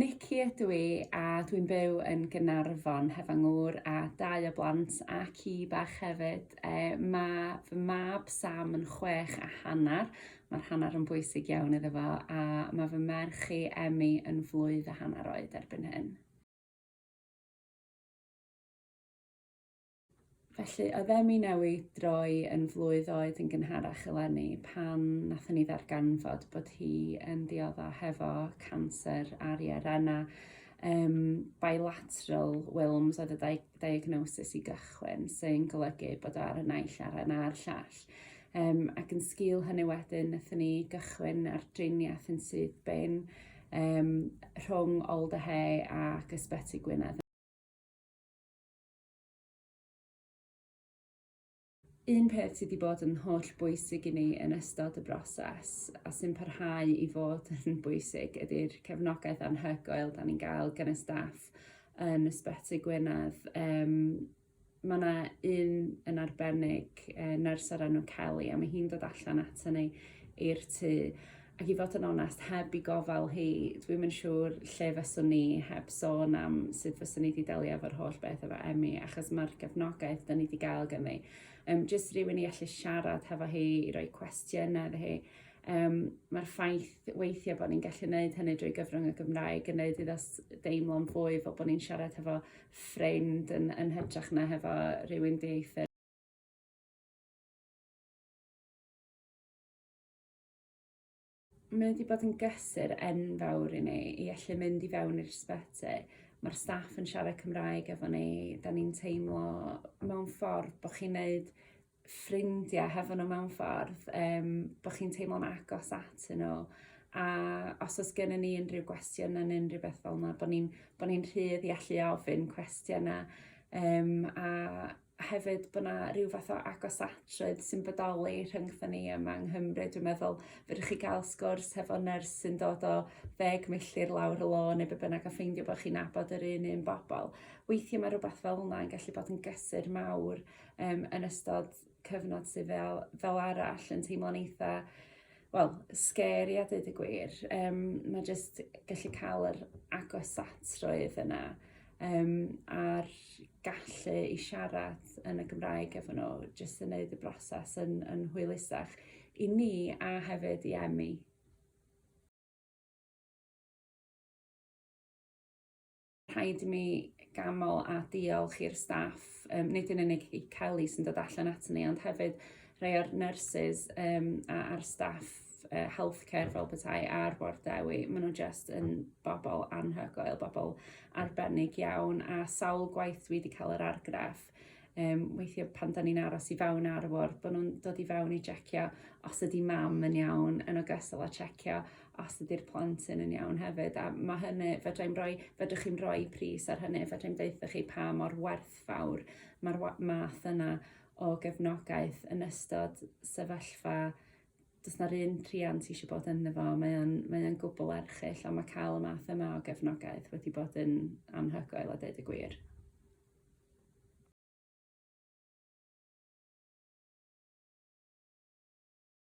Nikki ydw i a dwi'n byw yn Gaernarfon heb fy ngŵr a dau o blant a ci bach hefyd. E, mae fy mab Sam yn chwech a hanner, mae'r hanner yn bwysig iawn iddo fo, a mae fy merch i Emmy yn flwydd a hanner oed erbyn hyn. Felly, oedd Emi newid droi yn flwydd oed yn gynharach eleni pan nathon ni ddarganfod bod hi yn diodda hefo canser ar ei arena um, bilateral Wilms oedd y diagnosis i gychwyn sy'n golygu bod o ar y naill aren a'r llall. Um, ac yn sgil hynny wedyn, nathon ni gychwyn ar driniaeth yn sydd bin um, rhwng Old a Hay ac Ysbyty Gwynedd Un peth sydd wedi bod yn holl bwysig i ni yn ystod y broses a sy'n parhau i fod yn bwysig ydy'r cefnogaeth anhygoel da ni'n gael gan y staff yn Ysbyty Gwynedd. Um, mae yna un yn arbennig, uh, nyrs ar enw Kelly, a mae hi'n dod allan ato ni i'r tŷ Ac i fod yn onest, heb i gofal hi, dwi'm yn siŵr lle fyswn ni heb sôn am sut fyswn ni wedi delio efo'r holl beth efo Emmy, achos mae'r gefnogaeth da ni wedi gael gan ni. Um, just rhywun i allu siarad hefo hi, i roi cwestiynau iddo hi. Um, Mae'r ffaith weithiau bod ni'n gallu gwneud hynny drwy gyfrwng y Gymraeg yn gwneud iddo deimlo'n fwy fel bod ni'n siarad hefo ffrind yn, yn hytrach na hefo rhywun dieithr. Mae wedi bod yn gysur enfawr i ni i allu mynd i fewn i'r ysbyty. Mae'r staff yn siarad Cymraeg efo ni, da ni'n teimlo mewn ffordd bod chi'n neud ffrindiau hefo nhw mewn ffordd, um, bod chi'n teimlo'n agos at nhw. A os oes gennym ni unrhyw gwestiwn yn unrhyw beth fel yna, bod ni'n ni, rhydd i allu ofyn cwestiynau um, a a hefyd bod 'na ryw fath o agosatrwydd sy'n bodoli rhyngthon ni yma yng Nghymru dwi'n meddwl fedrwch chi ga'l sgwrs hefo nyrs sy'n dod o ddeg milltir lawr y lôn neu be' bynnag a ffeindio bo' chi'n nabod yr un un bobol weithie ma' rwbath fel 'na yn gallu bod yn gysur mawr yym yn ystod cyfnod sy fel fel arall yn teimlo'n eitha wel, scary a dweud y gwir. Um, mae jyst gallu cael yr agosatrwydd yna um, a'r gallu i siarad yn y Gymraeg efo nhw, jyst yn gwneud y broses yn, yn hwylusach i ni a hefyd i Emmy. Rhaid i mi ganmol a diolch i'r staff, um, nid yn unig i Kelly sy'n dod allan at ni, ond hefyd rhai o'r nurses um, a'r staff uh, healthcare fel bethau a'r bord dewi. Maen nhw'n just yn bobl anhygoel, bobl arbennig iawn, a sawl gwaith dwi wedi cael yr argraff um, weithiau pan da ni'n aros i fewn ar y ward, bod nhw'n dod i fewn i jecio os ydy mam yn iawn, yn ogystal â checio os ydy'r plant yn yn iawn hefyd a ma' hynny fedra i'm roi fedrwch chi'm roi pris ar hynny fedra i'm deutha chi pa mor werthfawr ma'r wa- math yna o gefnogaeth yn ystod sefyllfa do's 'na'r un rhiant ti isio bod ynddo fo mae o'n mae o'n gwbwl erchyll a ma' ca'l y math yma o gefnogaeth wedi bod yn anhygoel a deud y gwir.